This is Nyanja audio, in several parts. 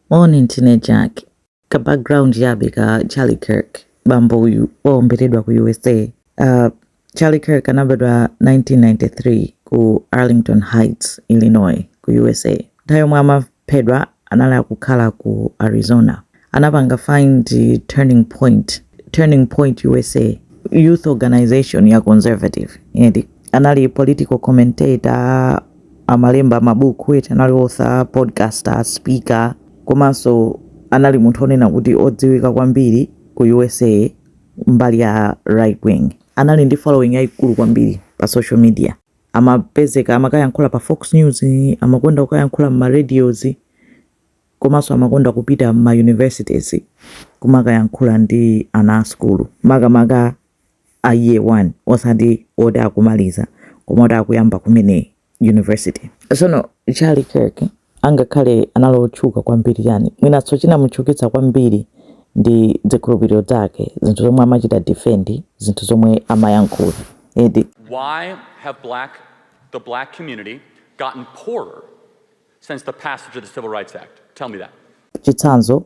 Moni ndine Jack. Ka background chabe ka Charlie Kirk, bambo uyu waomberedwa ku usa. Uh, Charlie Kirk anabadwa 1993 ku Arlington Heights, Illinois ku usa. Nthawi yomwe amaphedwa anali akukhala ku Arizona. Anapanga find Turning Point, Turning Point usa, youth organization ya conservative, eti anali political commentator amalemba mabuku eti anali author podcaster speaker komanso anali munthu onena kuti odziwika kwambiri ku usa mbali ya right wing anali ndi following yayikulu kwambiri pa social media amapezeka amakayankhula pa fox news amakonda kukayankhula mma radios komanso amakonda kupita mma universities kumakayankhula ndi ana a sukulu makamaka a year 1 osati oti akumaliza koma oti akuyamba kumene university. Tsono Charlie Kirk angakhale anali otchuka kwambiri chani, mwinanso chinamutchukitsa kwambiri ndi zikhulupiriro zake, zinthu zomwe amachita defend, zinthu zomwe amayankhula eti. Why have black, the black community gotten poorer since the passage of the Civil Rights Act? Tell me that. Chitsanzo,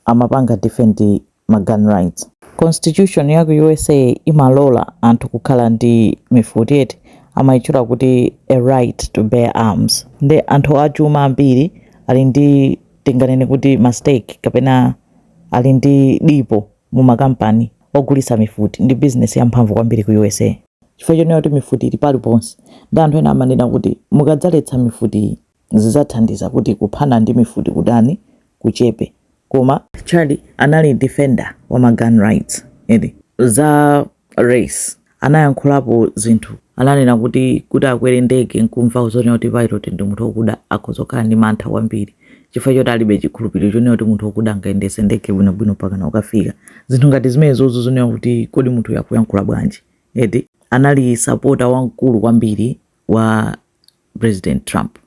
amapanga defend ma gun rights. Constitution ya ku usa imalola anthu kukhala ndi mifuti eti, amaitchula kuti a right to bear arms. Nde anthu achuma ambiri ali ndi tinganene kuti ma stake kapena ali ndi dipo mu ma kampani ogulitsa mifuti, ndi business ya mphamvu kwambiri ku usa. Chifukwa chonena kuti mifuti ili paliponse, nde anthu ena amanena kuti mukadzaletsa mifutiyi, zizathandiza kuti kuphana ndi mifuti kudani kuchepe koma Charlie anali defender wa ma gun rights eti za race anayankhulapo zinthu ananena kuti kuti akwere ndege nkumva zonena kuti pilot ndi munthu okuda akhoza kukhala ndi mantha kwambiri chifukwa choti alibe chikhulupiriro chonena kuti munthu okuda angayendese ndege bwinobwino pakana ukafika zinthu ngati zimenezozo zonena kuti kodi munthuyo akuyankhula bwanji eti anali sapota wamkulu kwambiri wa President Trump.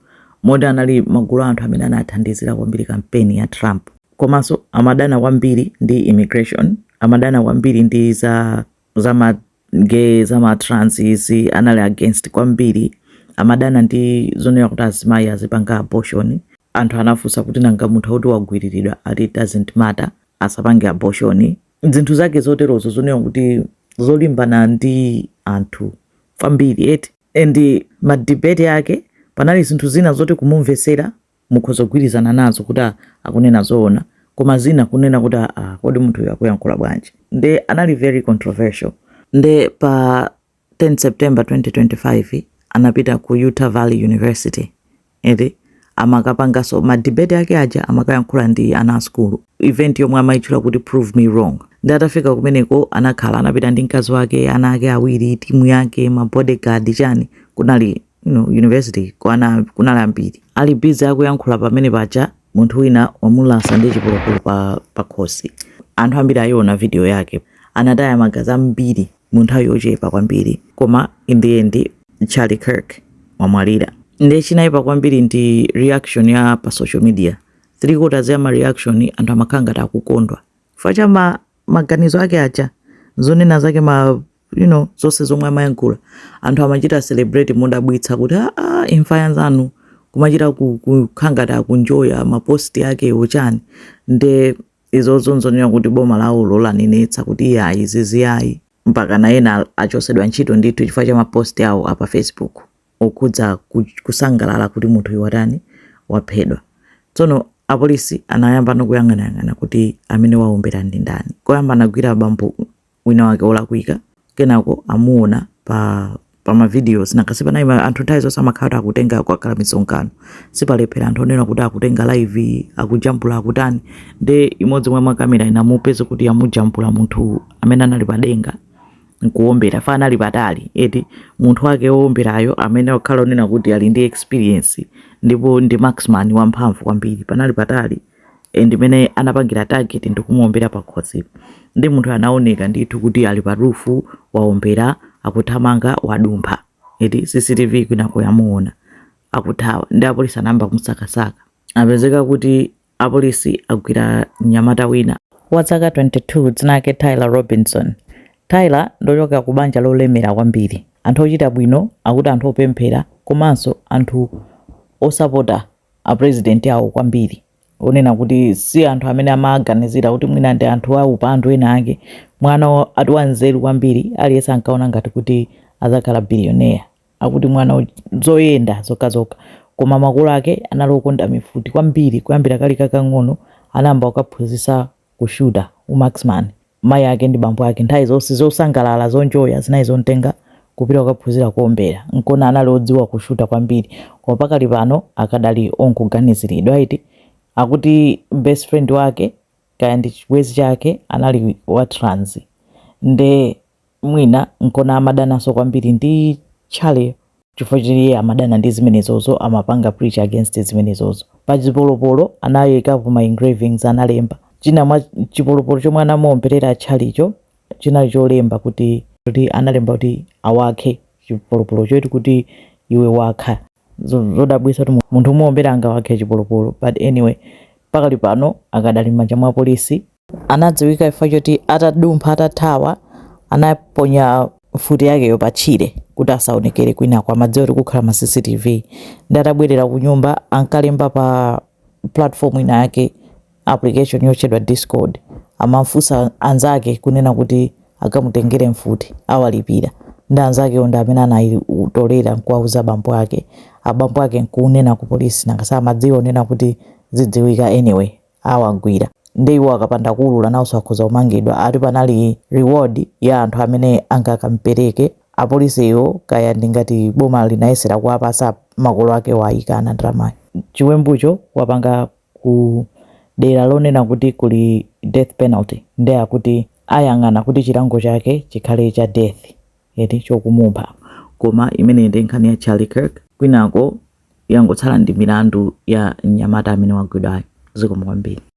Moti anali magulu a anthu amene anathandizira kwambiri kampeni ya Trump. Komanso amadana kwambiri ndi immigration, amadana kwambiri ndi za za ma gay, za ma trans izi, anali against kwambiri. Amadana ndi zonena kuti azimayi azipanga abortion. Anthu anafunsa kuti nanga munthu woti wagwiriridwa ati it doesn't matter, asapange abortion, zinthu zake zoterozo zonena kuti zolimbana ndi anthu kwambiri eti and ma debate ake panali zinthu zina zoti kumumvetsera mukhoza kugwirizana nazo kuti ah, akunena zoona koma zina kunena kuti ah, ah, kodi munthuyo akuyankhula bwanji nde anali very controversial nde pa 10 September 2025 anapita ku Utah Valley University eti amakapanganso ma debate ake aja amakayankhula ndi ana a sukulu event yomwe amayitchula kuti prove me wrong nde atafika kumeneko anakhala anapita ndi mkazi wake ana ake awiri timu yake ma bodyguard chani kunali you know, university kwana kunali ambiri ali busy akuyankhula pompaja munthu wina wamulasa ndi chipolopolo pa, pa khosi anthu ambiri ayiona video yake anataya magazi ambiri mu nthawi yochepa kwambiri koma in the end Charlie Kirk wamwalira nde chinaipa kwambiri ndi reaction ya pa social media three quarters ya ma reaction anthu amakhala ngati akukondwa chifukwa cha ma, maganizo ake aja zonena zake ma you know zonse zomwe amayankhula anthu amachita celebrate modabwitsa kuti aa ah, ah, imfa yanzanu kumachita kukhala ngati akunjoya ma post ake ochani nde Izozo nzonena kuti boma lawolo lanenetsa kuti iyayi izizi ayi, mpakana ena achotsedwa ntchito ndithu chifukwa cha ma post awo apa facebook okhudza kusangalala kuti munthuyu watani waphedwa. Tsono apolisi anayambano kuyang'anayang'ana kuti amene waombera ndi ndani, koyamba anagwira bambo winawake olakwika kenako amuona pa ma videos nanga sipanali ma- anthu nthawi zonse amakhala kuti akutenga kwakhala misonkano sipalephera anthu onena kuti akutenga live akujambula akutani nde imodzi mwa makamera inamupeza kuti yamujambula munthu amene anali padenga nkuombera fa anali patali eti munthu wake oomberayo amene wakhala onena kuti ali ndi experience ndipo ndi marksman wamphamvu kwambiri panali patali e, ndimene anapangira target ndikumuombera pakhosi nde munthu anaoneka ndithu kuti ali pa rufu waombera akuthamanga wadumpha eti cctv kwinako yamuona akuthawa nde apolisi anayamba kumusakasaka apezeka kuti apolisi agwira mnyamata wina wa zaka 22 dzina lake tyler robinson tyler ndochoka ku banja lolemera kwambiri anthu ochita bwino akuti anthu opemphera komanso anthu osapota a president awo kwambiri onena kuti si anthu amene amaganizira kuti mwina ndi anthu a upandu ena ake mwana ati wanzeru kwambiri aliyense ankaona ngati kuti adzakhala billionaire akuti mwana wa zoyenda zokhazokha koma makolo ake anali okonda mifuti kwambiri kuyambira kali kakang'ono anayamba kukaphunzitsa kushuta u marksman mayi ake ndi bambo ake nthawi zonse zosangalala zonjoya zinali zomtenga kupita kukaphunzira kuombera nkona anali odziwa kushuta kwambiri koma pakali pano akadali omuganiziridwa eti akuti best friend wake kaya ndi chibwenzi chake anali wa trans nde Mwina nkona amadananso kwambiri ndi Charlie chifukwa choti iye amadana ndi zimenezozo amapanga preach against zimenezozo. Pa chipolopolo anayikapo ma engravings analemba. China mwa chipolopolo chomwe anamuomberera Charliecho chinali cholemba kuti kuti analemba kuti awakhe chipolopolocho eti kuti iwe wakha. zodabwisa kuti munthu omuombera angawakhe chipolopolo but anyway pakali pano akadali m'manja mwa polisi. Anadziwika chifukwa choti atadumpha atathawa anaponya mfuti yakeyo pa tchire kuti asaonekere kwinako amadziwa kuti kukhala ma cctv nde atabwerera kunyumba ankalemba pa platform ina yake application yotchedwa discord amafunsa anzake kunena kuti akamutengere mfuti awalipira nde anzakewo ndi amene anayitolera nkuwauza abambo ake abambo ake nkunena ku polisi nanga si amadziwa kunena kuti zidziwika anyway awagwira nde iwo akapanda kuulula nawonso akhoza kumangidwa ati panali reward ya anthu amene angakampereke apolisiwo kaya ndi ngati boma linayesera kuwapasa makolo ake ayikana ndalamayo chiwembucho wapanga ku dera lonena kuti kuli death penalty nde akuti ayang'ana kuti chilango chake chikhale cha death eti chokumupha koma imeneyi ndi nkhani ya Charlie Kirk kwinako yangotsala ndi milandu ya mnyamata amene wagwidwayo zikomo kwambiri